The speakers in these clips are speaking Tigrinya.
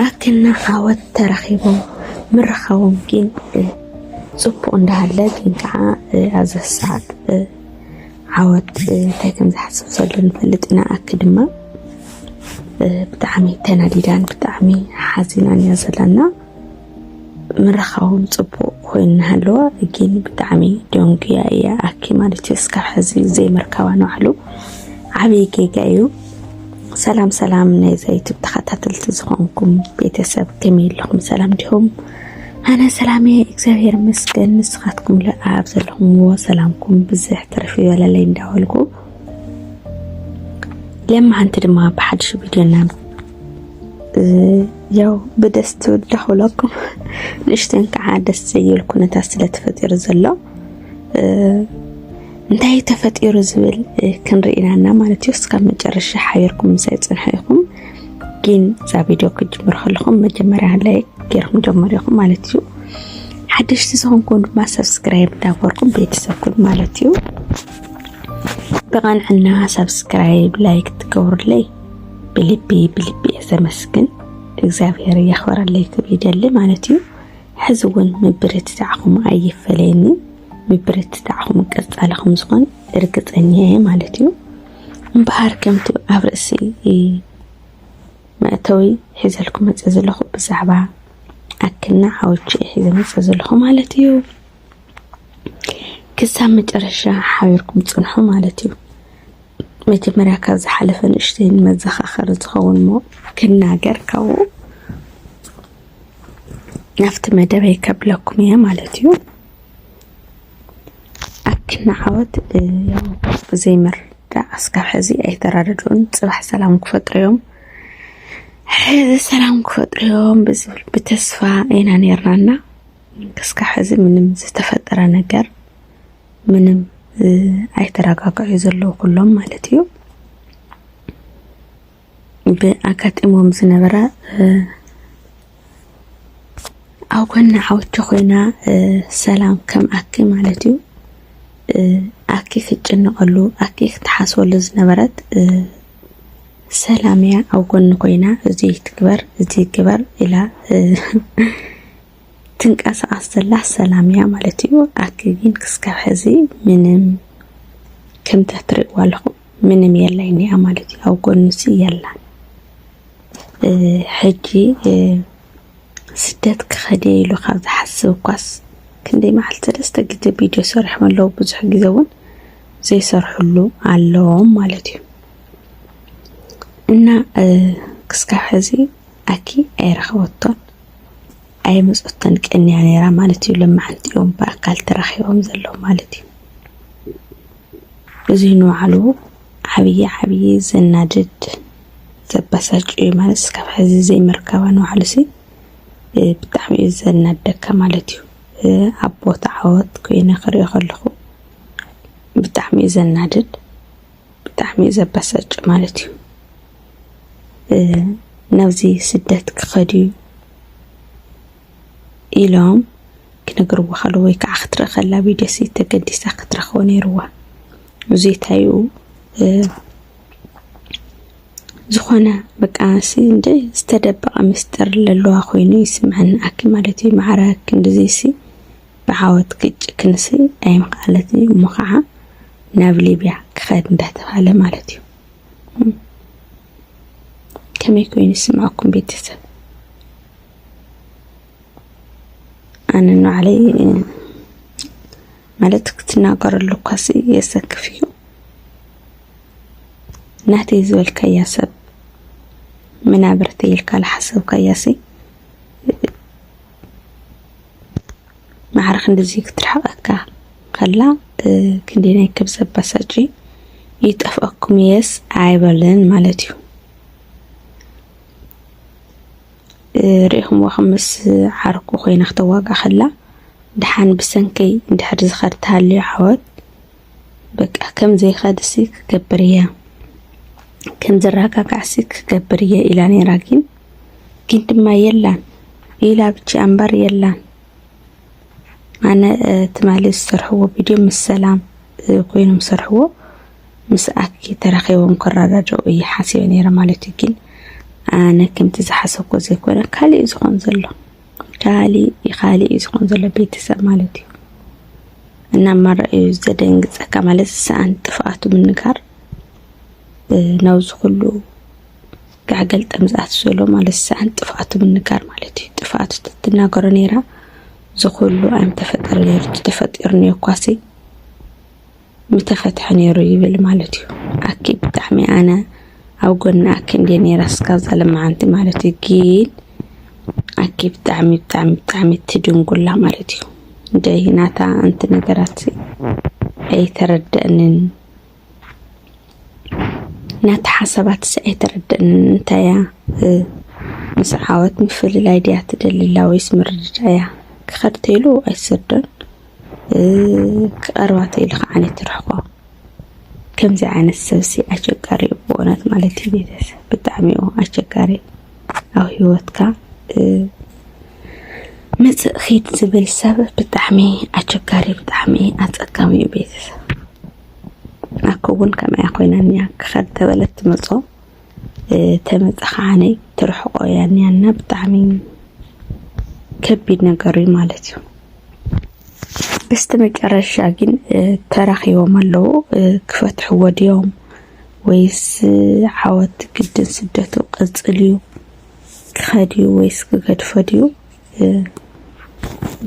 ኣክልና ዓወት ተረኺቦም ምርኻቦም ግን ፅቡቕ እንዳሃለ ግን ከዓ ኣብዚ ሰዓት ዓወት እንታይ ከም ዝሓስብ ዘሎ ንፈልጥ ኢና። ኣክ ድማ ብጣዕሚ ተናዲዳን ብጣዕሚ ሓዚናን እያ ዘለና። ምርኻቦም ጽቡቅ ኮይኑ ናሃለወ ጊን ብጣዕሚ ደንጉያ እያ ኣኪ ማለት እዩ እስካብ ሕዚ ዘይምርካባ ንባዕሉ ዓብይ ጌጋ እዩ። ሰላም ሰላም ናይዛ ዩቱብ ተኸታተልቲ ዝኾንኩም ቤተሰብ ከመይ ኣለኹም ሰላም ዲኹም? ኣነ ሰላም እየ እግዚኣብሔር ይመስገን። ንስኻትኩም ኣብ ዘለኹምዎ ሰላምኩም ብዝሕ ትርፊ ይበለለይ እንዳበልኩ ለማዓንቲ ድማ ብሓድሽ ቪድዮና ያው ብደስ ትብል ዳኹለኩም ንእሽተን ከዓ ደስ ዘይብል ኩነታት ስለ ተፈጢሩ ዘሎ እንታይ ተፈጢሩ ዝብል ክንርኢ ኢና ማለት እዩ። እስካብ መጨረሻ ሓቢርኩም ምሳይ ፅንሑ ኢኹም። ግን እዛ ቪድዮ ክጅምር ከለኹም መጀመርያ ላይ ገይርኩም ጀመሩ ኢኹም ማለት እዩ። ሓደሽቲ ዝኾንኩም ድማ ሰብስክራይብ እንዳበርኩም ቤተሰብ ኩን ማለት እዩ። ብቐንዕና ሰብስክራይብ ላይክ ትገብሩለይ ብልቢ ብልቢ እየ ዘመስግን እግዚኣብሔር የኽበረለይ ክብ ይደሊ ማለት እዩ ሕዚ እውን ምብርትታዕኹም ኣይፈለየኒ ምብርትታዕኹም ቀጻልኹም ዝኾን እርግፀኛ እየ ማለት እዩ እምበሃር ከምቲ ኣብ ርእሲ መእተዊ ሒዘልኩ መፀ ዘለኹ ብዛዕባ ኣክና ሓዎቹ ሒዘ መፀ ዘለኹ ማለት እዩ ክሳብ መጨረሻ ሓቢርኩም ፅንሑ ማለት እዩ መጀመርያ ካብ ዝሓለፈ ንእሽተይ ንመዘኻኸሪ ዝኸውን እሞ ክናገር ካብኡ ናብቲ መደበይ ከብለኩም እየ ማለት እዩ። ኣኪና ዓወት ያው ብዘይምርዳእ ኣስካብ ሕዚ ኣይተራደድኡን ፅባሕ ሰላም ክፈጥሩ እዮም ሕዚ ሰላም ክፈጥሩ እዮም ብዝብል ብተስፋ ኢና ነርናና ክስካብ ሕዚ ምንም ዝተፈጠረ ነገር ምንም ኣይተረጋግዑ ዘለዉ ኩሎም ማለት እዩ ብኣጋጢሞም ዝነበረ ኣብ ጎኒ ዓወቲ ኮይና ሰላም ከም ኣኪ ማለት እዩ ኣኪ ክትጭነቐሉ ኣኪ ክትሓስበሉ ዝነበረት ሰላም እያ ኣብ ጎኒ ኮይና እዚ ትግበር እዚ ግበር ኢላ ትንቀሳቀስ ዘላ ሰላም እያ ማለት እዩ። ኣኪ ግን ክስካብ ሕዚ ምንም ከምቲ እትርእይዋ ኣለኹም ምንም የላይ እኒኣ ማለት እዩ። ኣብ ጎንሲ የላን። ሕጂ ስደት ክኸደ ኢሉ ካብ ዝሓስብ እኳስ ክንደይ መዓልቲ ሰለስተ ግዜ ቪድዮ ሰሪሖም ኣለዉ። ብዙሕ ግዜ እውን ዘይሰርሕሉ ኣለዎም ማለት እዩ እና ክስካብ ሕዚ ኣኪ ኣይረኸበቶን። ኣይመጾተን ቀንያ ነይራ ማለት እዩ። ሎማዓንቲ እዮም ብኣካል ተራኺቦም ዘለዉ ማለት እዩ። እዚ ንባዕሉ ዓብዪ ዓብዪ ዘናድድ ዘበሳጭ እዩ ማለት እስካብ ሕዚ ዘይምርካባ ንባዕሉ ሲ ብጣዕሚ እዩ ዘናደካ ማለት እዩ። ኣብ ቦታ ዓወት ኮይነ ክሪኦ ከለኹ ብጣዕሚ እዩ ዘናድድ ብጣዕሚ እዩ ዘበሳጭ ማለት እዩ። ናብዚ ስደት ክኸድ እዩ ኢሎም ክነግርዎ ከለዉ ወይ ከዓ ክትርኢ ከላ ቪድዮ ሲ ተገዲሳ ክትረኽቦ ነይርዋ። እዙይ እንታይኡ ዝኾነ በቃ ሲ እንደ ዝተደበቐ ምስጢር ለለዋ ኮይኑ ይስምዐኒ ኣኪ ማለት እዩ ማዕረ ክንድዚ ሲ ብዓወት ግጭ ክንሲ ኣይምክኣለት እዩ እሞ ከዓ ናብ ሊብያ ክኸድ እንዳተባሃለ ማለት እዩ። ከመይ ኮይኑ ይስምዐኩም ቤተሰብ? ኣነ ንባዕለይ ማለት ክትናገረሉ እኳሲ የሰክፍ እዩ። ናተይ ዝበልካያ ሰብ ምናብርተይ ኢልካ ዝሓሰብካያሲ ማዕረ ክንድዚ ክትርሕቀካ ከላ ክንደየናይ ከም ዘበሳጭ ይጠፍኣኩም እየስ ኣይበልን ማለት እዩ ርኢኹምዎ ከም ምስ ዓርኩ ኮይና ክተዋግኣ ከላ ድሓን ብሰንከይ እንድሕር ዝኸድ ተሃልዩ ዓወት በቃ ከም ዘይኸድሲ ክገብር እየ ከም ዘረጋጋዕሲ ክገብር እየ ኢላ ነይራ ግን ግን ድማ የላን ኢላ ብቻ እምበር የላን ኣነ ትማሊ ዝሰርሕዎ ቪድዮ ምስ ሰላም ኮይኖም ዝሰርሕዎ ምስ ኣኪ ተራኺቦም ክረዳድኡ እዩ ሓሲበ ነይረ ማለት እዩ ግን ኣነ ከምቲ ዝሓሰብኮ ዘይኮነ ካሊእ ዝኾን ዘሎ ካሊእ ካሊእ እዩ ዝኾን ዘሎ ቤተሰብ ማለት እዩ እና ማራ እዩ ዘደንግፀካ ማለት ሰኣን ጥፍኣቱ ምንጋር ናብዚ ኩሉ ክዓ ገልጠም ዝኣቱ ዘሎ ማለት ሰኣን ጥፍኣቱ ምንጋር ማለት እዩ ጥፍኣቱ ተትናገሮ ነይራ እዚ ኩሉ ኣይምተፈጠረ ነይሩ ተተፈጢሩ ነይኳሲ ምተፈትሐ ነይሩ ይብል ማለት እዩ ኣኪ ብጣዕሚ ኣነ ኣብ ጎኒ ኣኪ እንዴ ነይራ እስካ ዘለማዓንቲ ማለት እዩ ግን ኣኪ ብጣዕሚ ብጣዕሚ ብጣዕሚ ትድንጉላ ማለት እዩ እንደ ናታ ኣንቲ ነገራት ኣይተረደእንን ነቲ ሓሳባትስ ኣይተረድእንን እንታይ እያ ምስ ዓወት ምፍልላይ ድያ ትደልላ ወይስ ምርድዳእ እያ ክኸድ ተይሉ ኣይትሰዶን ክቐርባ ተይሉ ከዓ ትርሕቆ ከምዚ ዓይነት ሰብሲ ኣቸጋሪ እዩ ብእውነት ማለት እዩ ቤተሰብ ብጣዕሚ እዩ ኣቸጋሪ ኣብ ሂወትካ መፅእ ኺድ ዝብል ሰብ ብጣዕሚ ኣቸጋሪ ብጣዕሚ ኣፀጋሚ እዩ ቤተሰብ ኣኮ እውን ከምኣ ኮይና እኒኣ ክኸድ ተበለት ትመፆ ተመፀ ከዓነ ትርሕቆ እያ እኒኣ እና ብጣዕሚ ከቢድ ነገር እዩ ማለት እዩ። በስተ መጨረሻ ግን ተራኺቦም ኣለዉ ክፈትሕዎ ድዮም ወይስ ዓወት ግድን ስደቱ ቅፅል እዩ ክኸድ እዩ ወይስ ክገድፎ ድዩ?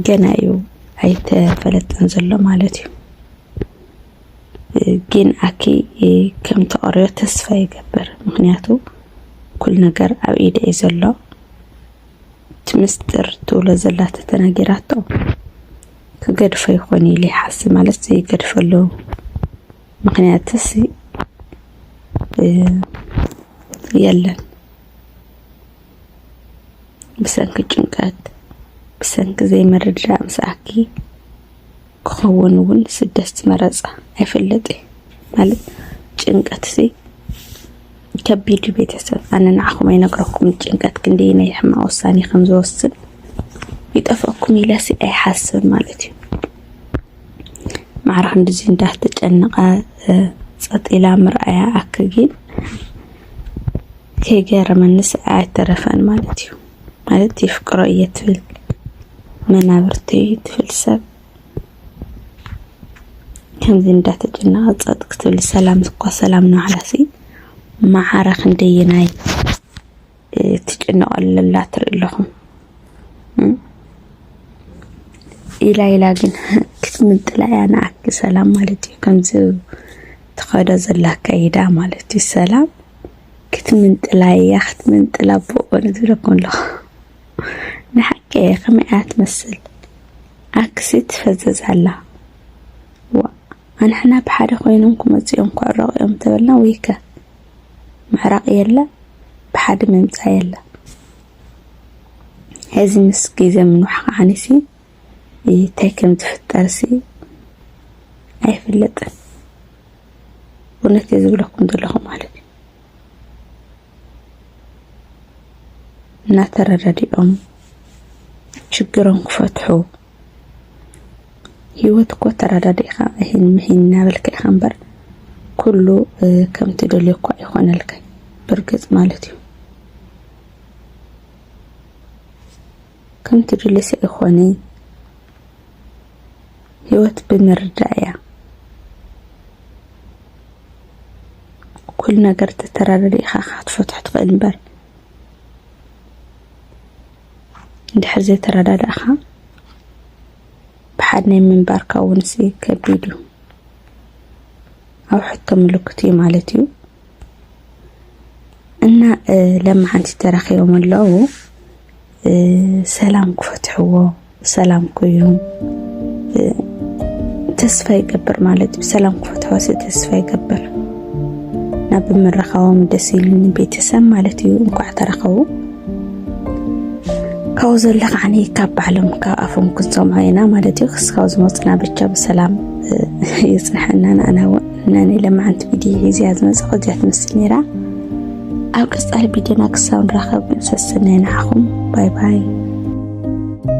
ገና እዩ ኣይተፈለጠን ዘሎ ማለት እዩ ግን ኣኪ ከም ተቐርዮ ተስፋ ይገብር ምክንያቱ ኩል ነገር ኣብ ኢደ እዩ ዘሎ እቲ ምስጢር ትብሎ ዘላ ተተነጊራቶ ክገድፎ ይኾን ኢለ ይሓስብ ማለት ዘይገድፈሉ ምክንያትስ የለን ብሰንኪ ጭንቀት፣ ብሰንኪ ዘይምርድዳእ ምስኣኪ ክኸውን እውን ስደት ዝመረጻ ኣይፈልጥይ ማለት ጭንቀት እዚ ከቢድ እዩ ቤተሰብ ኣነ ንዓኹም ኣይነግረኩም ጭንቀት ክንደይ ናይ ሕማቅ ውሳኔ ከም ዝወስን ይጠፍኣኩም ኢለሲ ኣይሓስብ ማለት እዩ ማዕራ ክንዲዚ እንዳተጨነቃ ጸጢላ ምርኣያ ኣክጊን ከይገረመኒስ ኣይተረፈን ማለት እዩ ማለት ይፍቅሮ እየ ትብል መናብርቲ እዩ ትብል ሰብ ከምዚ እንዳተጨነቐ ፀጥ ክትብል ሰላም እኳ ሰላም ንባዕላሲ መዓረ ክንደየናይ ትጭነቐሉ ኣላ ትርኢ ኣለኹም ኢላ ኢላ ግን ክትምጥላ እያ ንዓኪ ሰላም ማለት እዩ ከምዚ ትኸዶ ዘላ ኣካይዳ ማለት እዩ ሰላም ክትምንጥላ እያ ክትምንጥላ ብኦን ዝብለኩ ኣለኹ ንሓቂ እየ ከመይ እያ ትመስል ኣክሲ ትፈዘዝ ኣላ ዋ ኣንሕና ብሓደ ኮይኖም ክመፁ እዮም ክዕረቑ እዮም ተበልና ወይከ ምዕራቕ የለ ብሓደ ምምፃእ የለ እዚ ምስ ግዜ ምንዋሕ ከዓኒሲ እንታይ ከም ዝፍጠርሲ ኣይፍለጥን። እውነት እየ ዝብለኩም ዘለኹ ማለት እዩ። እናተረዳዲኦም ችግሮም ክፈትሑ ህይወት እኮ ተረዳዲእኻ እሂን ምሂን እናበልካ ኢኻ እምበር ኩሉ ከም ትደልዮ እኳ ኣይኾነልካ ብርግፅ ማለት እዩ። ከም ትድሊ ሰኢኮኒ ሂወት ብምርዳእ እያ ኩሉ ነገር ተተራዳዲእካ ኢካ ክትፈትሖ ትክእል እምበር እንድሕር ዘይተረዳዳእካ ብሓድ ናይ ምንባርካ እውን ሲ ከቢድ እዩ ኣብ ሕቶ ምልክት እዩ ማለት እዩ እና ለማዓንቲ ተራኪቦም ኣለዉ ሰላም ክፈትሕዎ ሰላም ኮይኑ ተስፋ ይገብር ማለት እዩ ሰላም ክፈትሖ ተስፋ ይገብር ናብ ምርኻቦም ደስ ኢሉኒ ቤተሰብ ማለት እዩ እንኳዕ ተረኸቡ ካብኡ ዘሎ ከዓኒ ካብ ባዕሎም ካብ ኣፎም ክንሰምዖ ኢና ማለት እዩ ክስካብ ዝመፅና ብቻ ብሰላም ይፅንሐና ንኣና እውን ነኒ ለማዓንቲ ቪድዮ ሒዝያ ዝመፅእ ከዚኣ ትመስል ነይራ ኣብ ቀጻሊ ቢድዮና ክሳብ ንራኸብ ሰስነ ንዓኹም ባይ ባይ።